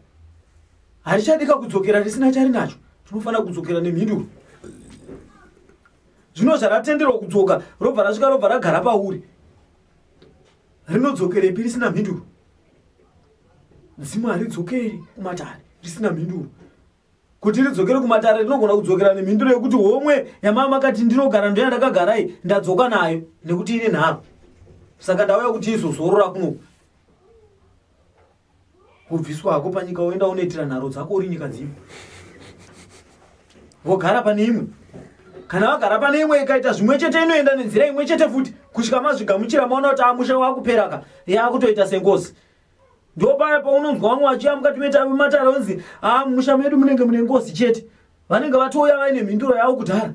Speaker 2: harichadika kudzokera risina charinacho tinofanira kudzokera nemhinduro zvino zvaratenderwa kudzoka robva rasvika robva ragara pauri rinodzokerepi risina mhinduro dzimu haridzokeri kumatare risina mhinduro Kuti ridzokere kumatare rinogona kudzokera nemhinduro yekuti homwe yamava makati ndinogara ndoya ndakagarai ndadzoka nayo nekuti ine nharo saka ndauya kuti izozorora kunoku kubviswa hako panyika woenda unoitira nharo dzako uri nyika dzimwe vogara pane imwe kana vagara pane imwe ikaita zvimwe chete inoenda nenzira imwe chete futi kusvika mazvigamuchira maona kuti amusha wakuperaka yaakutoita sengozi yeah, ndo paya paunonzwa vamwe vachiya mukati metave matare onzi haa ah, mumusha medu munenge mune ngozi chete vanenge vatouya vaine mhinduro yavo kudhara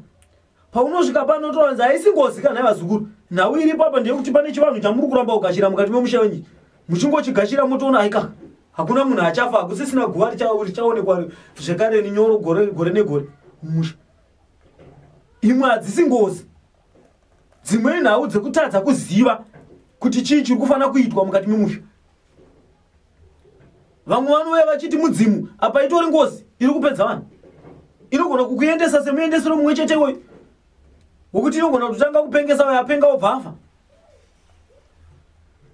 Speaker 2: paunosvika pano toanzi haisi ngozi kana vazukuru nhau iri papa ndeyekuti pane chivanhu chamuri kuramba kugashira mukati memusha wenyi muchingochigashira motoona aikaka hakuna munhu achafa hakusisina guva richaonekwa zvekare ninyoro gore negore mumusha imwe hadzisi ngozi dzimwe nhau dzekutadza kuziva kuti chii chiri kufanira kuitwa mukati memusha vamwe vanouya vachiti mudzimu apa itori ngozi iri kupedza vanhu inogona kukuendesa semuendesero mumwe chete iwoyo wokuti inogona kutotanga kupengesa uyo apenga obva afa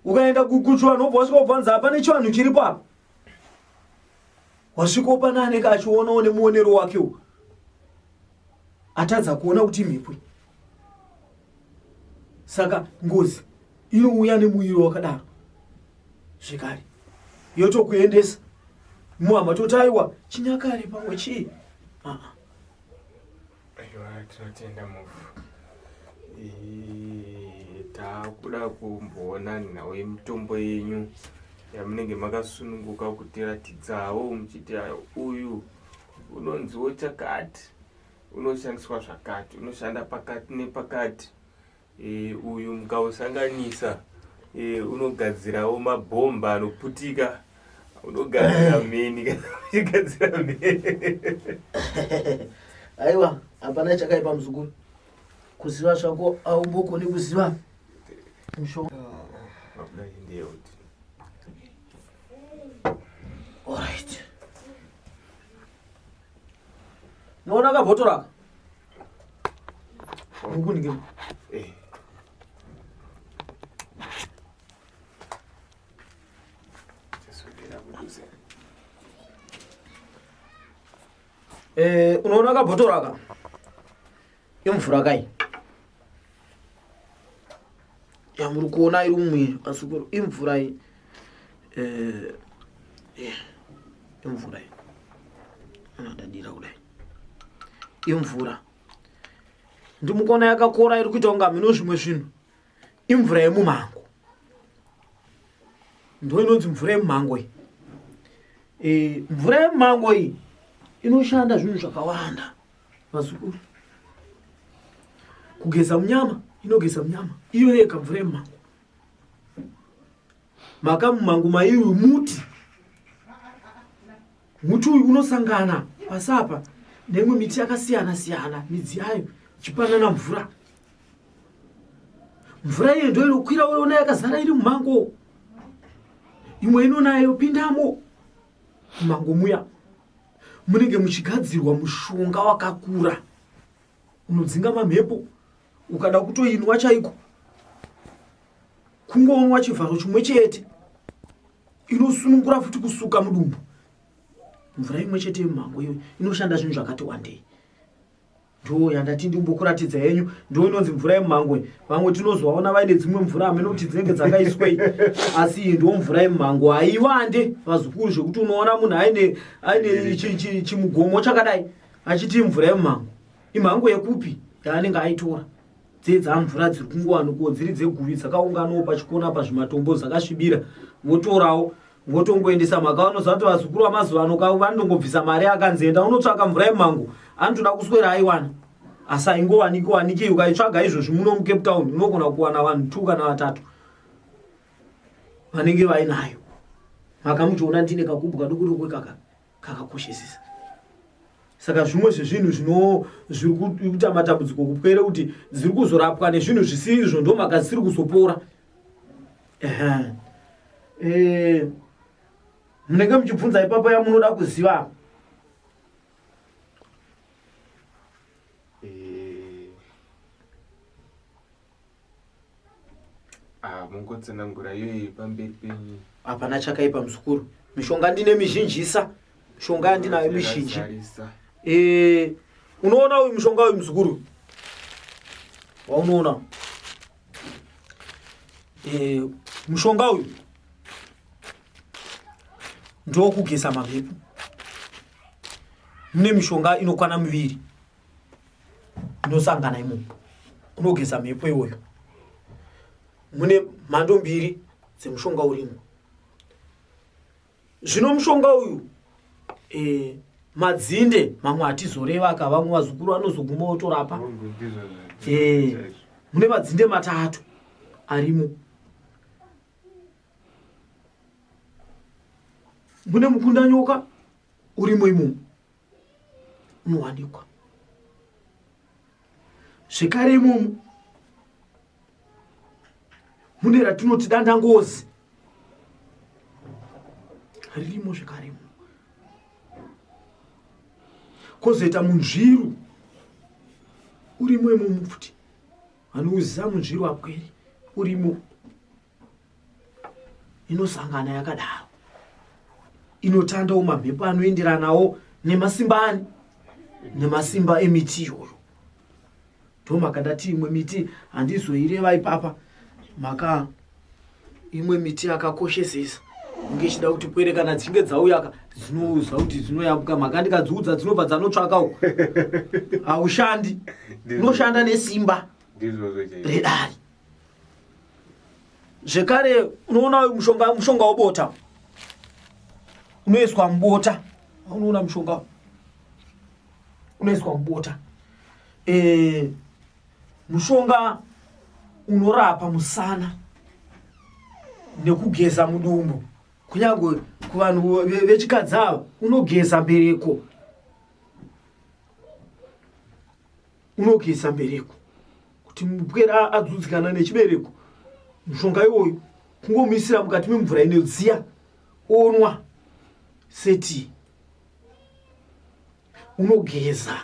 Speaker 2: ukaenda kukuchivanhu obva wasvika obvanza hapane chivanhu chiripo apa wasvikawo pane anenge achionawo nemuonero wakewo atadza kuona kuti imhepo saka ngozi inouya nemuviri wakadaro zvekare yotokuendesa muhama totaiwa chinyakare pamwe chii
Speaker 1: Aiwa tinotenda mufu. Eh, takuda kumboona nhau yemitombo yenyu yamunenge makasununguka kutiratidzawo muchiti ah, uyu unonziwo chakati unoshandiswa zvakati unoshanda pakati nepakati E, uyu mukausanganisa e, unogadzirawo mabhomba anoputika unogadzira mheni kanachigadzira mheni
Speaker 2: aiwa hapana chakaipa muzukuru kuziva zvako aungokoni kuziva mushonga Alright. Naona kabhotoraka. Eh, unoona kabhotoro aka imvura kai yamuri kuona iri umwe vasikuru imvura iyi eh, eh, imvura iyi anadadira kudai imvura ndimukona yakakora iri kuita kunga mino zvimwe zvinhu imvura yemumango ndo inonzi mvura yemumango iyi eh, mvura yemumango iyi inoshanda zvinhu zvakawanda Vazukuru. Kugeza munyama inogeza munyama. Iyo yeka mvura yemumango. Maka mumango maiyu muti. Muti uyu unosangana pasapa nemwe miti yakasiyana siyana midzi yayo ichipanana mvura. Mvura iyo ndoyo inokwira woona yakazara iri mumango. Imwe inonayo pindamo. Mumango muya. munenge muchigadzirwa mushonga wakakura unodzinga mamhepo ukada kutoinwa chaiko kungoonwa chivharo chimwe chete inosunungura futi kusuka mudumbu mvura imwe chete yemumhango iyo inoshanda zvinhu zvakati wandei ndouya ndati ndimbokuratidza yenyu ndo inonzi mvura yemumhango iyi vamwe tinozovaona vaine dzimwe mvura hameno kuti dzinenge dzakaiswei asi iyi ndo mvura yemumhango haivande vazukuru zvekuti unoona munhu aine aine chi- chi- chimugomo chakadai achiti imvura yemumhango imhango yekupi yaanenge aitora dzee dzamvura dziri kungowanikwo dziri dzeguvi dzakaunganawo pachikona pazvimatombo dzakasvibira votorawo votongoendesa mhaka vanozati vazukuru vamazuva ano kavo vanongobvisa mari akanzi enda unotsvaka mvura yemhango anotoda kuswera aiwana asi aingowaniki waniki ukaitsvaga izvozvi muno mucape town unogona kuwana vanhu two kana vatatu vanenge vainayo mhaka muchiona ndine kakubwa dukudokwe kaka kakakoshesesa saka zvimwe zvezvinhu zvino zviri kuita matambudziko kupwere kuti dziri kuzorapwa nezvinhu zvisirizvo ndomaka dzisiri kuzopora eh, munenge muchibvunza ipapa yamunoda kuziva
Speaker 1: Ah, mungotsanangura iyoyi pamberi penyu hapana chakaipa
Speaker 2: muzukuru mishonga ndine mizhinjisa mishonga yandinayo mizhinji Tarisa. Eh, unoona uyu mushonga uyu muzukuru waunoona Eh, mushonga uyu ndokugeza mamhepo mune mishonga inokwana miviri inosangana imomo kunogeza mhepo iwoyo mune mhando mbiri dzemushonga urimo zvino mushonga uyu e, madzinde mamwe hatizoreva ka vamwe vazukuru vanozoguma otorapa e, mune madzinde matatu arimo mune mukundanyoka urimo imomo unowanikwa zvekare imomo mune ratinoti danda ngozi ririmo zvekare imomo kozoita munzviru urimo imomo futi vanoziva munzviru apweri urimo inosangana yakadaro inotandawo mamhepo anoenderanawo nemasimba ani nemasimba emiti iyoyo ndomakandati imwe miti handizoireva ipapa maka imwe miti yakakoshesesa inge ichida kuti pwere kana dzichinge dzauyaka dzinouza kuti dzinoyambuka maka ndikadziudza dzinobva dzanotsvakawo haushandi unoshanda nesimba redari zvekare unoona mushonga mushonga wobota unoiswa mubota unoona mushonga unoiswa mubota e, mushonga unorapa musana nekugeza mudumbu kunyange kuvanhu vechikadzi ava unogeza mbereko unogeza mbereko kuti mupwera adzudzikana nechibereko mushonga iwoyu kungomuisira mukati memvura inodziya onwa seti unogeza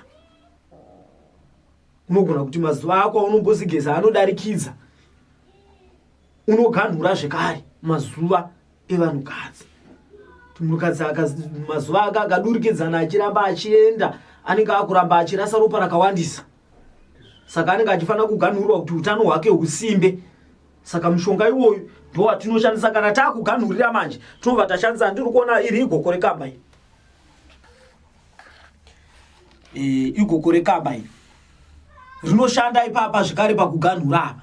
Speaker 2: unogona kuti mazuva ako aunombozigeza anodarikidza unoganhura zvekare mazuva evanhukadzi munhukadzi mazuva ake akadurikidzana achiramba achienda anenge akuramba achirasa ropa rakawandisa saka anenge achifanira kuganhurwa kuti utano hwake husimbe saka mushonga iwoyu ndowatinoshandisa kana taakuganhurira manje tinobva tashandisa ndiri kuona iri igoko rekamba iri e, igoko rekamba iri rinoshanda ipapa zvekare pakuganhura apa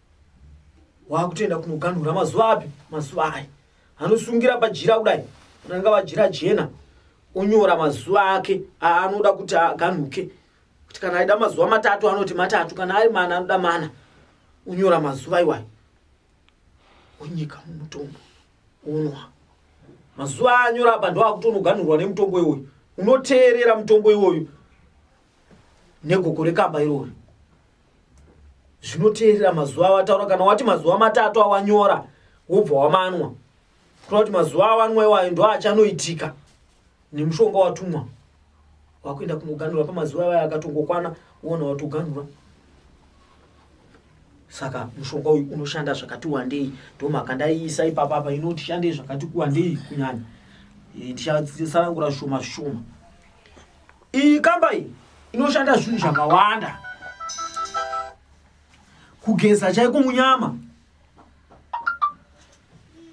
Speaker 2: wakutoenda kunoganhura mazuva api mazuva ayi anosungira pajira kudai ananga vajira jena onyora mazuva ake aanoda kuti aganhuke kuti kana aida mazuva matatu anoti matatu kana ari mana anoda mana onyora mazuva iwayo onyika mumutombo onwa mazuva aanyora apa ndoakutonoganhurwa nemutombo iwoyu unoteerera mutombo iwoyu negoko rekamba irori zvinoteerera mazuva awataura kana wati mazuva matatu awanyora wobva wamanwa kutoa kuti mazuva awanwa iwayo ndo achanoitika nemushonga watumwa wakuenda kunoganhura pamazuva iwayo akatongokwana uona watoganhura saka mushonga uyu unoshanda zvakati wandei ndomhaka ndaiisa ipapapa inoti shandei zvakati kuwandei kunyanya eh, ndichatsanangura zvishoma zvishoma iyi kamba iyi inoshanda zvinhu zvakawanda kugeza chaiko munyama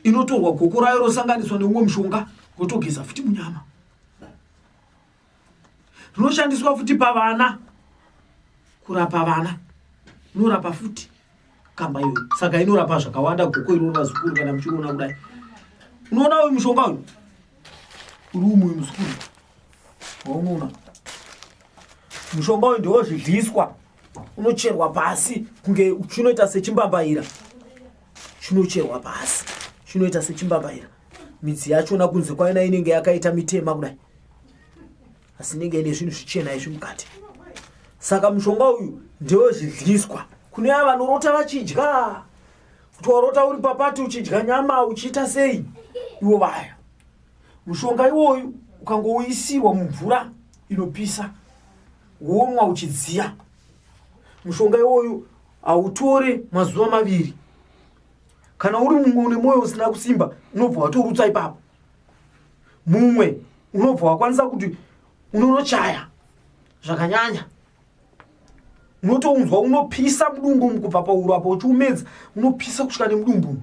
Speaker 2: inotorwa goko rayo rosanganiswa neumwe mushonga rotogeza futi munyama rinoshandiswa futi pavana kurapa vana rinorapa futi kamba iyo saka inorapa zvakawanda goko iroro vazukuru kana muchiriona kudai unoona uyu mushonga uyu uri umwe muzukuru waunoona mushonga uyu ndewozvidliswa unocherwa pasi kunge chinoita sechimbambaira chinocherwa pasi chinoita sechimbambaira midzi yachona kunze kwaina inenge yakaita mitema kudai asi inenge ine zvinhu zvichena izvi mukati saka mushonga uyu ndewe zvidyiswa kune ava vanorota vachidya kuti warota uri papati uchidya nyama uchiita sei iwo vaya mushonga iwoyu ukangouyisirwa mumvura inopisa womwa uchidziya mushonga iwoyu hautore mazuva maviri kana uri mumwe une mwoyo usina kusimba unobva watorutsa ipapo mumwe unobva wakwanisa kuti unonochaya zvakanyanya unotounzwa unopisa mudumbu mukubva pauro apo uchiumedza unopisa kusvika nemudumbu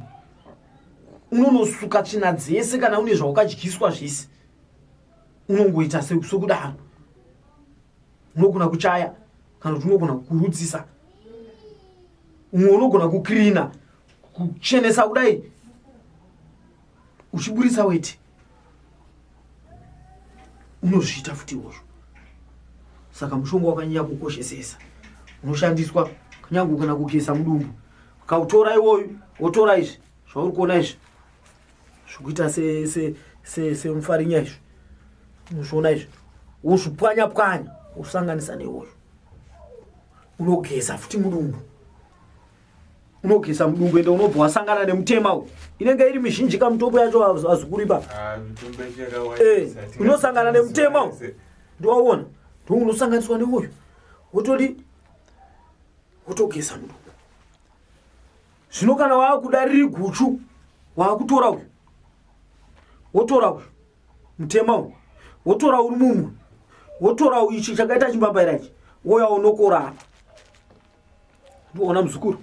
Speaker 2: unonosuka tsvina dzese kana une zvawakadyiswa zvese unongoita sekudaro unogona kuchaya kana kuti unogona kukurudzisa umwe unogona kukrina kuchenesa kudai uchiburitsa weti unozviita futi izvozvo saka mushonga wakanyanya kukoshesesa unoshandiswa kunyange kana kugeza mudumbu kautora iwoyu wotora izvi zvauri kuona izvi zvikuita semufarinya izvi unozviona izvi wozvipwanya pwanya wosanganisa newoyo unogeza futi mudumbu unogeza mudumbu ende unobva wasangana nemutema uyu inenge iri mizhinji kamutombo yacho hazikuripa ah, eh, unosangana nemutema uyu ndiwaona ndiwo unosanganiswa neuyu wotodi wotogeza mudumbu zvino kana waakuda riri guchu waakutora uyu wotora uyu mutema uyu wotora uri mumwe wotora uyu ichi chakaita chimbambaira ichi woya unokorana ndoona muzukuru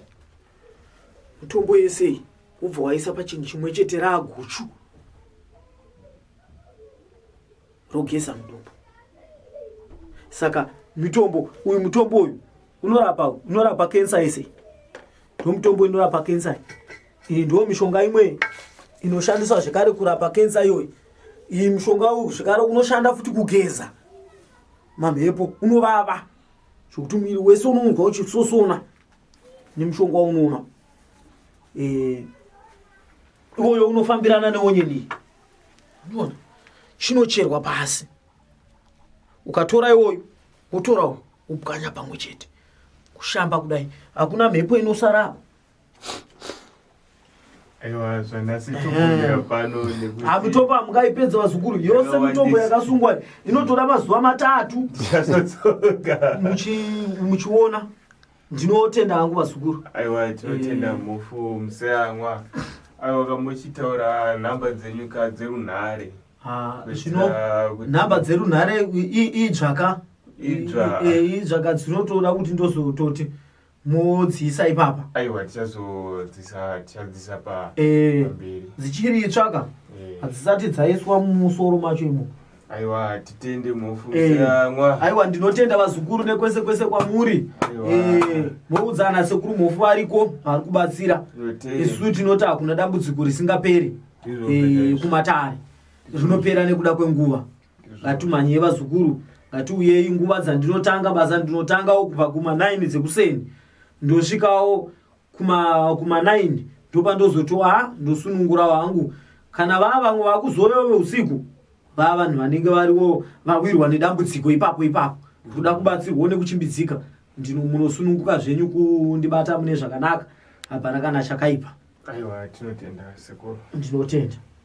Speaker 2: mutombo yesei wobva waisa pachinhu chimwe chete raaguchu rogeza mudumbu saka mitombo uyu mutombo uyu unorapa unorapa kensa yese ndo mutombo inorapa kensa iyi ndo mishonga imwe inoshandiswa zvekare kurapa kensa iyoyi iyi mushonga uyu zvekare unoshanda futi kugeza mamhepo unovava zvekuti muviri wese unonzwa uchisosona nemushonga waunoona eh, iwoyo unofambirana neonyeni unoona chinocherwa pasi ukatora iwoyo wotorawo upwanya pamwe chete kushamba kudai hakuna mhepo inosara
Speaker 1: ha mitombo hamungaipedza
Speaker 2: vazukuru yose mitombo yakasungwa inotora mazuva matatu muchiona ndinotenda hangu vazukuru aiwa tinotenda
Speaker 1: eh. mufu museyamwa aiwa kamuchitaura nhamba dzenyu ka dzerunhare zvino
Speaker 2: nhamba dzerunhare idzvaka idzvaka eh, dzinotoda kuti ndozototi modziisa ipapa aiwa tichazodzisa
Speaker 1: tichadziisa pa Eh, pamberi dzichiri itsva
Speaker 2: ka Eh. hadzisati dzaiswa mumusoro macho imo aiwa
Speaker 1: titende Eh, munofungisira mwa aiwa ndinotenda
Speaker 2: vazukuru nekwese kwese kwamuri Aiwa. Eh, moudza ana sekuru mhofu variko vari kubatsira Tinotenda. isu tinoti hakuna dambudziko risingaperi Izvo Eh, zvinopera. kumatare rinopera nekuda kwenguva ngatumhanyei vazukuru ngatiuyei nguva dzandinotanga basa ndinotangawo kubva kuma 9 dzekuseni ndosvikawo kuma, kuma 9 ndopa ndozotiwa ha ndosunungurawo hangu kana vaa vamwe vakuzovewo veusiku vaa vanhu vanenge variwo vawirwa nedambudziko ipapo ipapo kuda kubatsirwawo nekuchimbidzika ndino munosununguka zvenyu kundibata mune zvakanaka hapana kana chakaipa aiwa tinotenda
Speaker 1: sekuru ndinotenda